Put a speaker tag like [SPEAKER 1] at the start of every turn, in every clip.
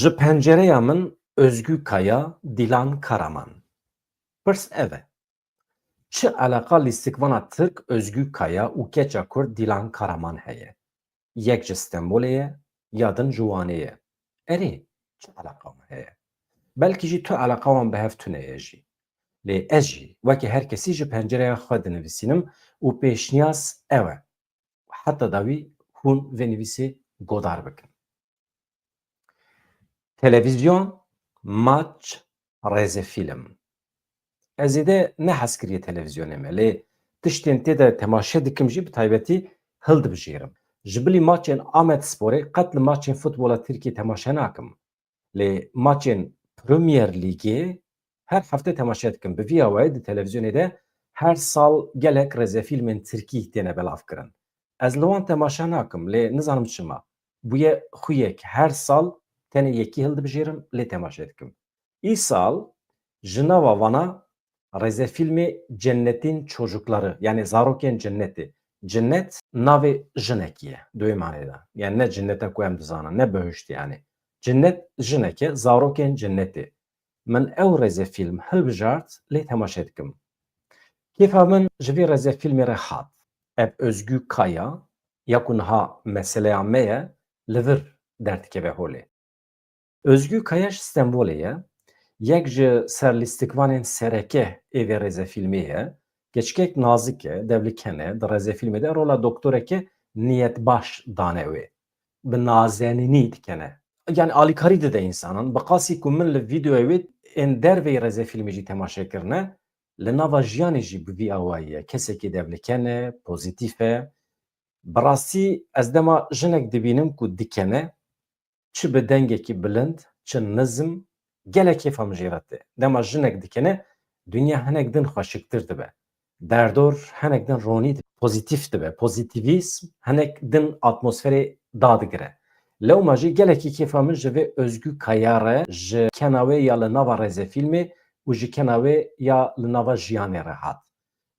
[SPEAKER 1] Ji pencereya min Özgü Kaya, Dilan Karaman. Pirs ev e, çi eleqa lîstikvana Tirk Özgü Kaya û keça Kurd Dilan Karaman heye? Yek ji Stenbolê ye ya din ji Wanê ye. Erê, çi eleqa wan heye? Belkî jî tu eleqa wan bi hev tune ye jî. Lê ez jî weke her kesî ji pencereya xwe dinivîsînim û pêşniyaz ew e, û heta dawî hûn vê nivîsê godar bikin. Televîzyon, maç, rêzefîlm. Ez zêde ne hez kiriye televîzyonê me lê tiştên tê de temaşe dikim jî bi taybetî hildibijêrim. Ji bilî maçên Amedsporê qet li maçên futbola Tirkiyê temaşe nakim. Lê maçên Premier Lîgê her hefte temaşe dikim. Bi vî awayê di televîzyonê de her sal gelek rêzefîlmên tirkî têne belavkirin. Ez li wan temaşe nakim lê nizanim çima. Bûye xuyek her sal tenê yekî hildibijêrim lê temaşe dikim. Îsal ji nava wana Rêzefîlmê Cennetîn Çocukları yanî Zarokên Cennetê, Cinnet, navê jinekî ye di wê manê de yanî ne cinneta ku em dizanin ne behiştê yanî cinnet jinek e Zarokên Cennetê min ew rêzefîlm hilbijart lê temaşe dikim. Kêfa min ji vî rêzefîlmê re hat. Ev Ozgû Kaya ya ku niha meseleya me ye li vir derdikeve holê. Ozgû Kaya ji Stenbolê ye, yek ji serlîstikvanên sereke ê vê rêzefîlmê ye. Keçikek nazik e, devli ken e, di rêzefîlmê de rola doktoreke niyetbaş dane wê. Bi nazenînî dikene. Yanî alîkarî dide însanan. Bi qasî ku min li vîdeoya wê ên derveyî rêzefîlmê jî temaşe kirine, li nava jiyanê jî bi vî awayî ye. Kesekî devli ken e, pozîtîf e. Bi rastî ez dema jinek dibînim ku dikene, Çi bi dengekî bilind, çi nizm, gelek kêfa min jê re tê. Dema jinek dikene, dinya hinek din xweşiktir dibe. Derdor hinek din ronî dibe, pozîtîf dibe. Pozîtîvîsm hinek din atmosferê dadigire. Lewma jî gelekî kêfa min ji vê Ozgû Kaya re, ji kena wê ya li nava rêzefîlmê û ji kena wê ya li nava jiyanê re hat.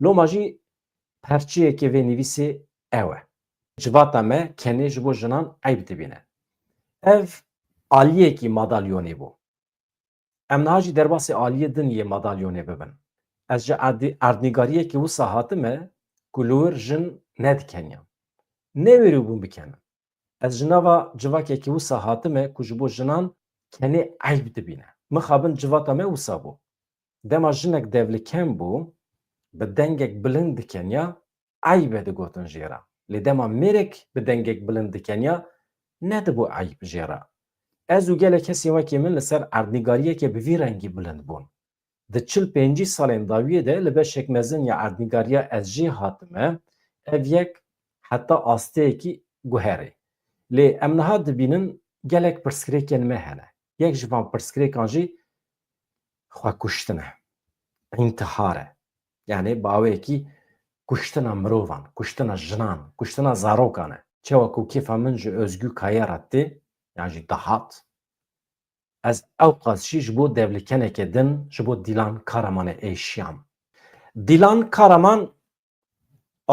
[SPEAKER 1] Loma jî perçiyekê vê nivîsê ew e. Civata me kenê ji bo jinan eyb dibîne. Ev aliyekî madalyonê bû. Em niha jî derbasî aliyê din yê madalyonê bibin. Ez ji erdnîgariyekî wisa hatime ku li wir jin nedikeniyan. Newêribûm bikenim. Ez ji nava civakekî wisa hatime ku ji bo jinan kenê eyb dibîne. Mixabin civata me wisa bû. Dema jinek devlikem bû, bi dengek bilind dikeniya, eyb e digotin jê re. Lê dema mêrek bi dengek bilind dikeniya nedibû eyb jê re. Ez û gelek kesên wekî min li ser erdnîgariyeke bi vî rengî bilind bûn. Di çil pêncî salên dawiyê de li beşek mezin ya erdnîgariya ez jê hatime, ev yek heta asteyekî guherî. Lê em niha dibînin gelek pirsgirêkên me hene. Yek ji van pirsgirêkan jî xwekuştin e. Întihar e. Yanê bawekî kuştina mirovan, kuştina jinan, kuştina zarokan e. Çawa ku kêfa min ji Ozgû Kaya re tê yan jî dihat, ez ewqas jî ji bo devlikeneke din ji bo Dîlan Karamanê êşiyam. Dîlan Karaman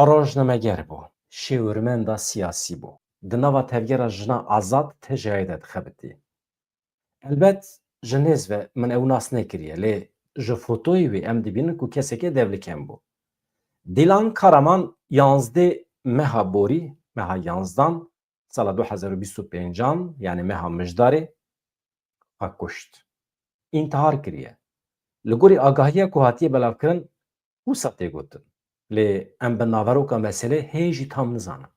[SPEAKER 1] rojnameger bû, şêwirmenda siyasî bû. Di nava Tevgera Jina Azad, TJA'yê de dixebitî. Elbet ji nêz ve min ew nas nekiriye lê ji fotoyê wê em dibînin ku kesekê devlikem bû. Dîlan Karaman yanzdê meha borî, meha yanzdan, sala du hezar û bîst û pêncan yanê meha mijdarê xwe kuşt. Întihar kiriye. Li gorî agahiya ku hatiye belavkirin wisa tê gotin lê em bi naveroka meselê hê jî tam nizanin.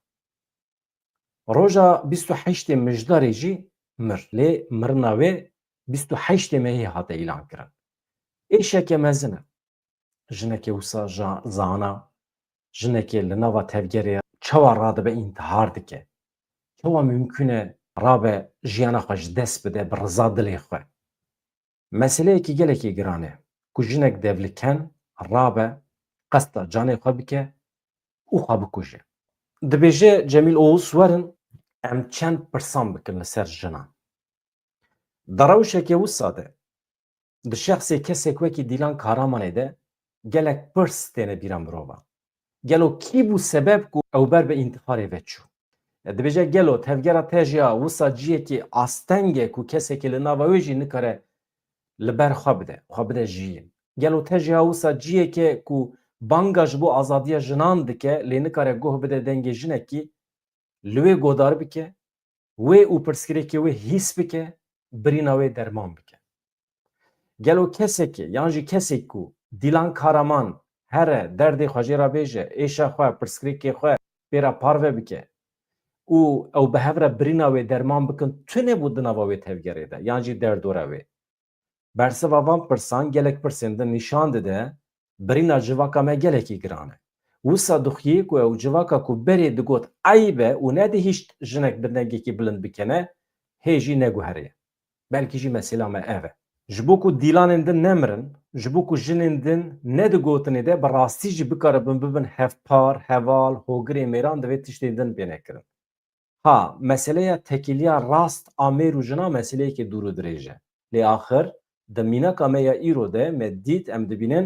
[SPEAKER 1] Roja bîst û heştê Mijdarê jî mir. Lê mirina wê bîst û heştê Mehê hate îlankirin. Êşeke mezin e. Jinekê wisa zana, jinekê li nava tevgerê çawa radibe întihar dike? Çawa mumkun e rabe jiyana xwe ji dest bide bi riza dilê xwe? Meseleyekî gelekî giran e ku jinek devliken rabe qesta canê xwe bike û xwe bikuje. Dibêje Cemîl Oğuz werin em çend pirsan bikin li ser jinan. Di rewşeke wisa de, di şexsê kesek wekî Dîlan Kahramanê de gelek pirs têne bîra mirovan. Gelo kî bû sebeb ku ew ber bi întiharê ve çû? Dibêje gelo tevgera te jî ya wisa ciyekî asteng e ku kesekî li nava wê jî nikare li ber xwe bide, xwe bide jiyîn. Gelo te jî ya wisa ciyek e ku banga ji bo azadiya jinan dike lê nikare guh bide dengê jinekî li wê godar bike wê û pirsgirêkê wê hîs bike, birîna wê derman bike. Gelo kesekê yan jî kesêk ku Dîlan Karaman here derdê xwe jê re bêje, êşa xwe, pirsgirêkê xwe pê re parve bike û ew bi hev re birîna wê derman bikin tune bû di nava wê tevgerê de yan jî derdora wê? Bersiva van pirsan gelek pirsên din nîşan dide birîna civaka me gelekî giran e. Wisa dixuyê ku ew civaka ku berê digot eyb e û nedihîşt jinek bi dengekî bilind bikene, hê jî neguheriye. Belkî jî mesela me ev e. Ji bo ku dîlanên din nemirin, ji bo ku jinên din ne di gotinê de bi rastî jî bikaribin bibin hevpar, heval, hogirê mêran divê tiştên din bêne kirin. Ha, meseleya tekîliya rast a mêr û jina meseleyekî dûr û dirêj e. Lê axir di mînaka me ya îro de me dît, em dibînin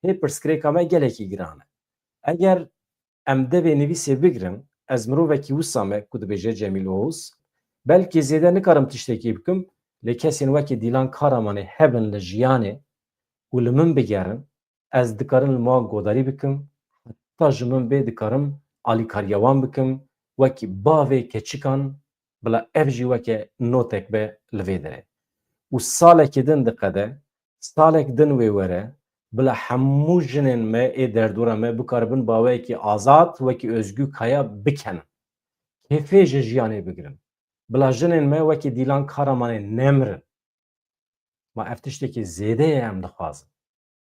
[SPEAKER 1] hê pirsgirêka me gelekî giran e. Eger em devê nivîsê bigirin, ez mirovekî wisa me ku dibêje Cemîl Oğuz, belkî zêde nikarim tiştekî bikim, lê kesên wekî Dîlan Karamanê hebin li jiyanê û li min bigerin, ez dikarin li wan godarî bikim, heta ji min bê dikarim alîkariya wan bikim, wekî bavê keçikan, bila ev jî weke notek be li vê derê. Û salekî din diqede, salek din wê were, bila hemû jinên me ê derdora me bikaribin baweyekî azad wekî Ozgû Kaya bikenin. Kêfê ji jiyanê bigirin. Bila jinên me wekî Dîlan Karamanê nemirin. Ma ev tiştekî zêde ye em dixwazin.